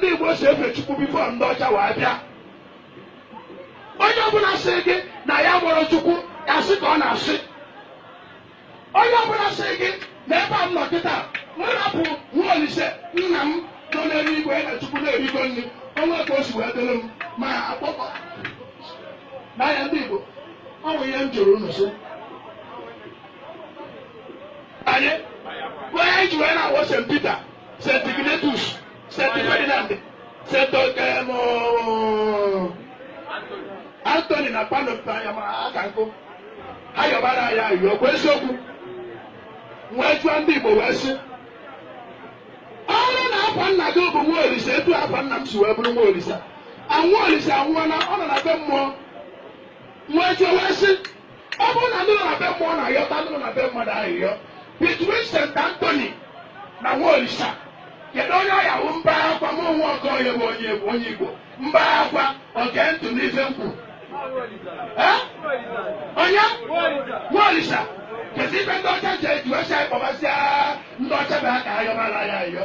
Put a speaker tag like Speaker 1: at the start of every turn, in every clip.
Speaker 1: ndị Igbo si efe Chukwu before ndị ọcha wee bịa onye ọbụla sị gị na ya fụrụ Chukwu asị ka ọ na-asị onye ọbụla sị gị na ebe a m nọ kịta m rapụ nwa olise nna m nọ n'elu igwe na Chukwu na-erigo nri o nwee ka o si wee dịrị m ma akpọkọ n'anya ndị Igbo ọ bụ ihe m jụrụ unu sị anyị onye anyị ji wee na-akpọ St. Peter St. Ignatius, St. Ferdinand, St. Okemo, Anthony na Padua ma aka nkụ ha yọbara anyị ayịyọ ọkwa eziokwu wee jụọ ndị Igbo wee sị ọ bụrụ na afa nna gị bụ nwa olise etu afa nna m si wee bụrụ nwa olise nwa olise anwụọla ọ nọ na be mmụọ wee jụọ wee sị ọ bụrụ na ndị nọ na be mmụọ na-ayọta ndị nọ na be mmadụ ayịyọ between St. Anthony na Nwaolisa kedu onye ọ ya-awụ mbakwa Nwokoye bụ onye bụ onye Igbo mbakwa gee ntị n'ife m kwuru Eh? onye Nwaolisa kezi ife ndị ọcha ji eji wee sị anyị kpọbasịa ndị ọcha bụ ha ka ha yọbara anyị ayịyọ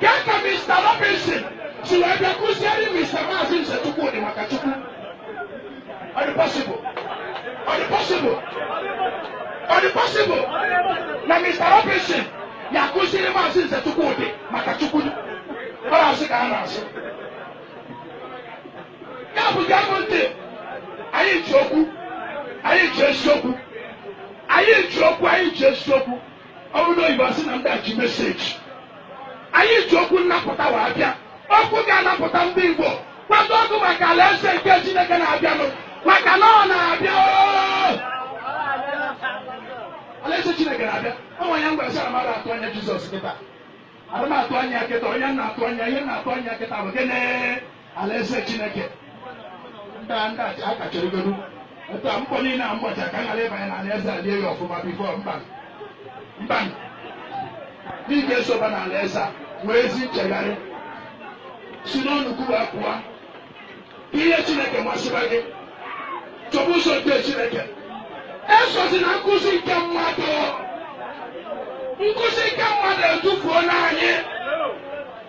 Speaker 1: Ka ka Mr. Robinson si wee bịa kụziere Mr. Maazị Nze Chukwudi maka Chukwu. Ọ dị possible? Ọ dị possible? Ọ dị possible na Mr. Robinson ya-akụziri Maazị Nze Chukwudi maka Chukwu? Ọ bụ asị ka a na-asị. Ya bụ gee m ntị, anyị ji okwu, anyị ji eziokwu, anyị ji okwu, anyị ji eziokwu. ọ bụrụ oyibo asị na ndị a ji message anyị ji okwu nnapụta wee bịa okwu ga-anapụta ndị Igbo kwadoonụ maka alaeze nke Chineke na-abịanụ maka na ọ na-abịa alaeze Chineke na-abịa ọnwa ya ngwa sara mmadụ atụ anya Jizọs kịta adị m atụ anya kịta onye na-atụ anya ihe m na-atụ anya kịta bụ gịnị alaeze chineke ndị a ndị a a kachọrọgodu etu a mkpọ niile a mgbacha ka a ghara ịbanye na alaeze a lie ya ọfụma before mba mba ị ga-esoba na alaeze a nwee ezi nchegharị si n'onukwu wee pụọ ka ihe chineke masịba gị chọba ụzọ nke chineke esozina nkụzi nke mmadụ nkụzi nke mmadụ edufuola anyị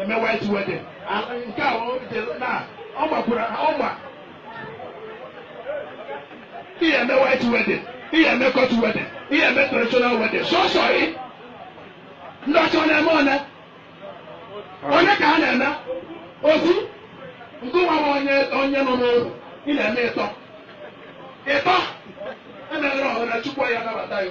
Speaker 1: eme white wedding ala nke a o jere na ọ gbakwara ọ gba ị ya-eme white wedding ị ya-eme court wedding ị ya-eme traditional wedding sọsọ ị ndị ọcha ọ na-eme one one ka ha na-eme ofu gị nwa bụ onye nọ n'ụlọ ị na-eme ịtọ ịtọ emeghere ọhụrụ chukwu ya-anabata ya